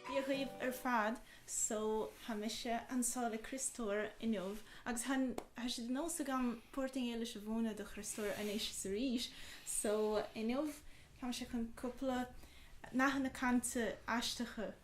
Dia dhaoibh ar fad. So, tá mise anso le Criostóir inniu agus tá tá sé de nós agam Portaingéilis a mhúineadh do Chriostóir anois is arís. So, inniu tá mise chun cúpla nathanna cainte aisteacha.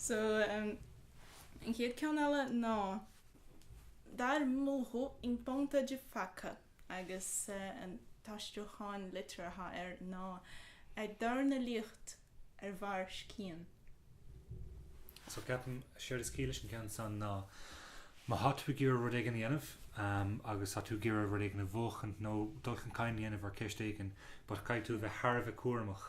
So, an chéad ceann eile ná, Dar murro em ponta de faca, agus an t-aistriúchán liteartha atá air ná ag dornálaíocht ar bharr scian. So, ceapaim, séard is ciall leis an gceann san ná, má tá tú ag iarraidh rud éigin a dhéanamh, agus tá tú ag iarraidh rud éigin a bhuachan nó dul chun cinn a dhéanamh ar ceist éigin, but caithfidh tú a bheith thar a bheith cúramach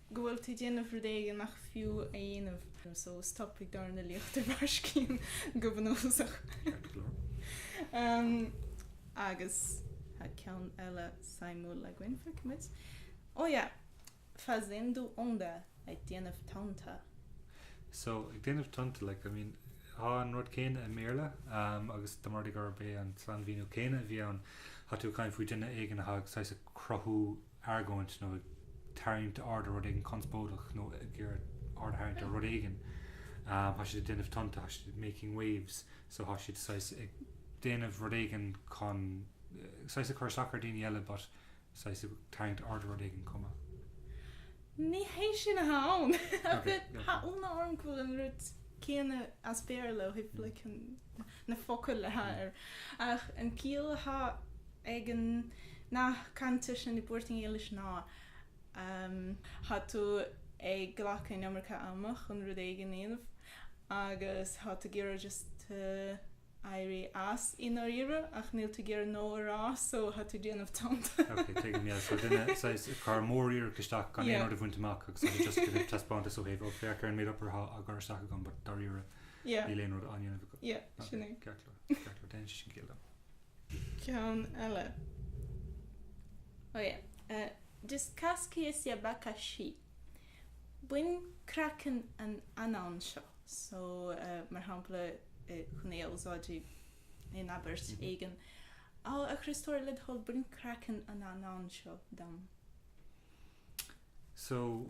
go bhfuil tú ag déanamh rud éigin nach fiú a dhéanamh, so stop ag dornálaíocht ar bharr scian go bunúsach. Agus tá ceann eile suimiúil againn, feicimid. Oh yeah! Fazendo onda, ag déanamh tonnta. So, ag déanamh tonnta, like, I mean, tá an rud céanna i mBéarla, agus dá mba rud é gurb é an sainmhíniú céanna a bhí ann, tá tú ag caint faoi duine éigin atá ag saghas ag cruthú, argóint nó ag tarraingt aird ar rud éigin conspóideach nó ag iarraidh aird a tharraingt ar rud éigin. Tá siad ag déanamh tonnta, tá siad making waves, so tá siad saghas ag déanamh rud éigin chun, saghas ag cur isteach ar daoine eile but saghas ag tarraingt aird ar rud éigin chomh maith. Ní hé sin atá ann. Tá ionadh orm go bhfuil an rud céanna as Béarla ó thaobh like an. na focail atá air, ach an ciall atá ag an nath cainte sin i bPortaingéilis ná tá tú ag glacadh an iomarca ama chun rud éigin a dhéanamh agus tá tú ag iarraidh just éirí as i ndáiríre ach níl tú ag iarraidh no a rá so tá tú ag déanamh tonnta. Ok, tuigim, yeah, so duine, saghas, ag cur móriarracht isteach gan aon Yeah. rud a bhaint amach agus tá tú just ag déanamh taispeántas ó thaobh, ok, féach ar an méid obair atá á gcur isteach agam but dáiríre, Yeah. Níl aon rud á ndéanamh acu. Yeah, Ok, sin é. Ceart leor. Ceart leor. Déanann sé sin ciall dom. Ceann eile. Oh yeah. Eh, Descasca esse abacaxi. Bain craiceann an anann seo. So, eh, mar shampla, eh, chun é a úsáid i, in abairt éigin. Á, a Chriostóir, le do thoil, bain craiceann an anann seo dom. So,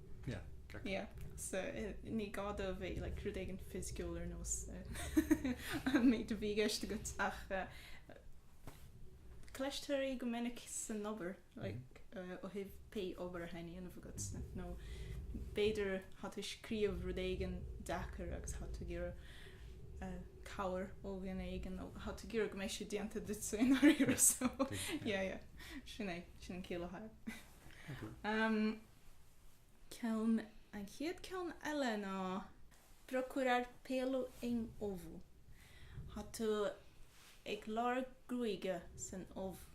Yeah, get going. Yeah, so ní gá dó bheith like rud éigin fisiciúil ar nós an méid a bhí i gceist agat ach cloistear é go minic san obair like ó thaobh pé obair athá á dhéanamh agat nó b'fhéidir thá tú ag scríobh rud éigin deacair agus thá tú ag iarraidh cabhair ó dhuine éigin nó thá tú ag iarraidh go mbeidh sé déanta duitse i ndáiríre so yeah yeah sin é, sin an chiall athá leis. ceann, an chéad cheann eile ná. procurar pelo em ovo, thá tú ag lorg gruaige san ubh.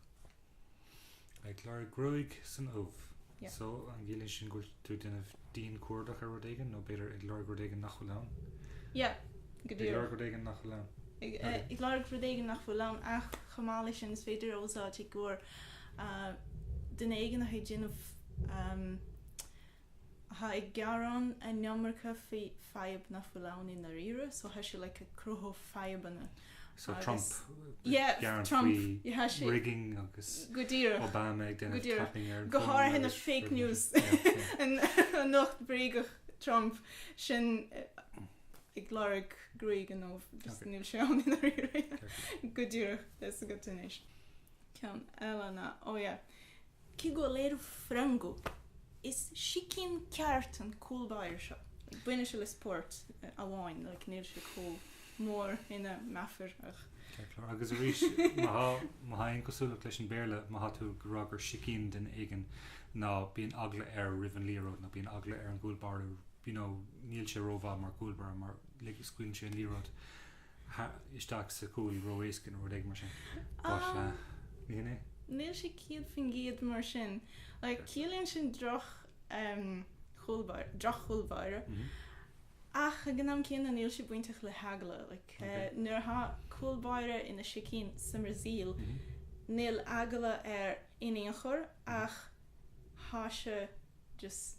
ag lorg gruaig san ubh. Yeah. So, an gciallaíonn sin go bhfuil tú ag déanamh dianchuardach ar rud éigin, nó b'fhéidir ag lorg rud éigin nach bhfuil ann? Yeah, go díreach. Ag lorg rud éigin nach bhfuil ann. Ag lorg rud éigin nach bhfuil ann, ach chomh maith leis sin, is féidir a úsáid i gcomhair duine éigin atá ag déanamh, atá ag gearán an iomarca faoi fadhb nach bhfuil ann i ndáiríre, so thá sé like cruthú fadhbanna. So Trump ag gearán faoi rigging agus Obama ag déanamh tapping air. Go háirithe na fake news an nuacht bhréagach Trump sin ag lorg gruaig in ubh, níl sé ann i ndáiríre. Go díreach, that's a good definition. ceann eile ná oh yeah. Que goleiro frango, is sicín ceart an cúl báire seo. Baineann sé le spórt amháin, níl sé chomh mór ina meafar ach. Ceart, agus arís, má thá aon chosúlacht leis an Béarla, má thá tú ag rá gur sicín duine éigin, ná bíonn eagla air roimh an liathróid, ná bíonn eagla ar an gcúl báire, you know, níl sé rómhaith mar chúl báire mar scaoileann sé an liathróid. isteach sa chúl ró-éasca nó rud éigin mar sin but ní hin é. Níl sé céad faoin gcéad mar sin. Like, ciallaíonn sin droch em chúlbáire, droch chúlbáire ach ag an am céanna níl sé bainteach le heagla like eh nuair atá cúlbáire ina sicín sa mBrasaíl níl eagla air in aon chor ach thá sé just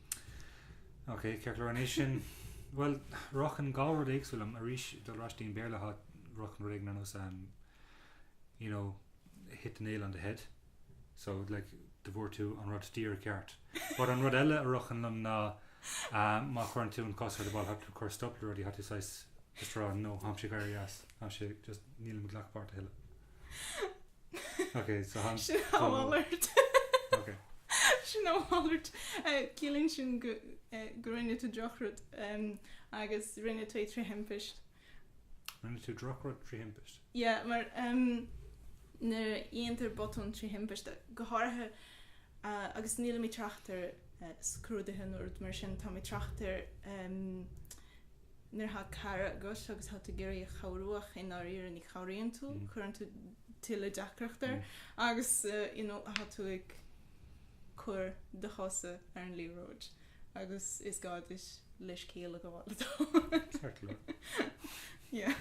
Ok, ceart go leor anois sin. Bhuel, ritheann dhá rud éagsúil liom, arís dul ar ais dtí'n Béarla thá ritheann rud éigin ar nós ehm you know hit the nail on the head so like go bhfuair tú an rud díreach ceart. But an rud eile a ritheann liom ná ehm má chuireann tú an cos ar an ball thá tú cur stop le rudaí thá tú saghas just rá no tháimse ag éirí as tháimse just nílim ag glacadh páirt a thuilleadh. Ok, so han a mhalairt. Ok. Sin a mhalairt. Ciallaíonn sin go rinne tú drochrud agus rinne tú é trí thimpist. Rinne tú drochrud trí thimpist? Yeah, mar nuair a dhéantar botún trí thimpist, go háirithe agus nílim ag trácht ar scrúduithe nó rud mar sin, táim ag trácht ar Nuair atá cara agat agus tá tú ag iarraidh a chabhrú ach i ndáiríre ní chabhraíonn tú, cuireann tú tuilleadh deacracht air agus you know tá tú ag cur do chosa ar an liathróid agus is gá duit leithscéal a ghabháil Ceart go leor. yeah.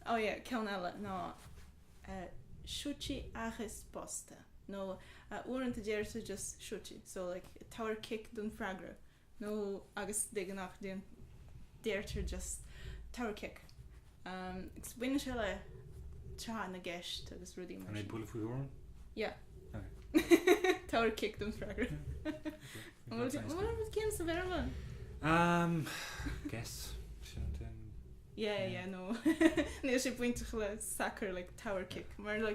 oh yeah ceann eile ná eh chuta e é a bosta nó uaireanta deir tú just chuta so like tabhair cic don freagra nó agus de ghnáth deirtear just tabhair cic agus baineann sé le tráth na gceist agus rudaí mar sin. An é bualadh faoi thuairim? Yeah. Tabhair cic don freagra. An bhfuil an bhfuil an ceann sa Bhéarla? Um, guess. Yeah, yeah, no. Níl sé bainteach le sacar le tabhair cic, mar le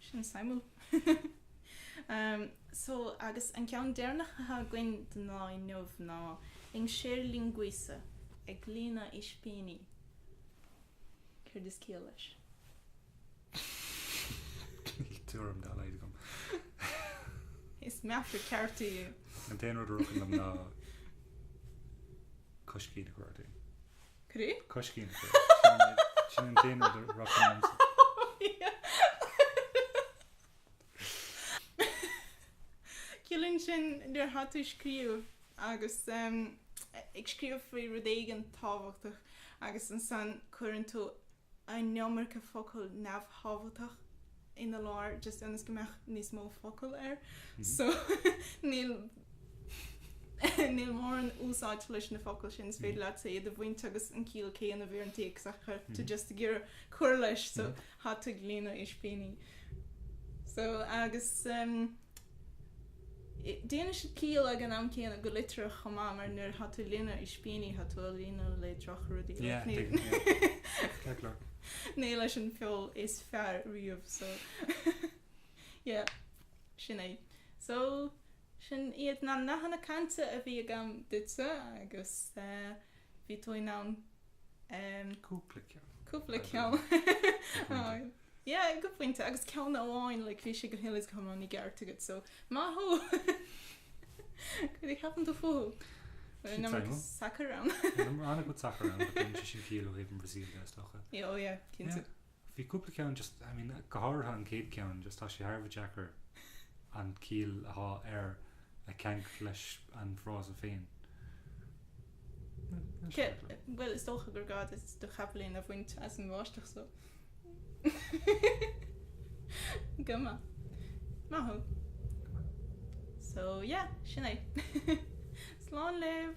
Sin suimiúil. So, agus an ceann deireanach atá againn don lá inniu ná encher linguiça ag líonadh ispíní. Céard is ciall leis? Níl tuairim dá laghad agam. Is meafar ceart í. An t-aon rud a rithfeadh liom ná coiscín a chur ort fhéin. Cri? Coiscín cri. Sin an t-aon rud a rithfeadh liomsa. Ciallaíonn sin nuair atá tú ag scríobh agus ag scríobh faoi rud éigin tábhachtach agus ansan cuireann tú an iomarca focal neamhthábhachtach ina lár just ionas go mbeadh níos mó focal air so níl níl mórán úsáid leis na focail sin is féidir leat iad a bhaint agus an ciall céanna a bheith ar an téacs ach tá tú just ag iarraidh cur leis so tá tú ag líonadh ispíní so agus. Déanann sé ciall ag an am céanna, go liteartha chomh maith, mar nuair atá tú ag líonadh ispíní, tá tú á líonadh le drochrudaí, ach ní leis an feoil is fearr riamh, so yeah, sin é. So, sin iad na nathanna cainte a bhí agam duitse, agus bhí tú in ann cúpla ceann a rá. Yeah, go pointe, agus ceann amháin, like, bhí sé go huile is go hiomlán i gceart agat, so, maith thú! Cad a cheapann tú fúthu? Sin Number teanga. Sacar ann. Number ana-chuid sacair ann, but déanann sin ciall ó thaobh na Brasaíle de is dócha. Yeah, oh yeah, cinnte. Yeah. Bhí cúpla ceann just, I mean, go háirithe an chéad cheann, just tá sé thar a bheith deacair an ciall athá air a cheangal leis an bhfrása féin. Bhuel, is dócha gur gá duit do chapaillín a bhaint as an bháisteach so. Go maith. Maith thú. So yeah, sin é. Slán libh!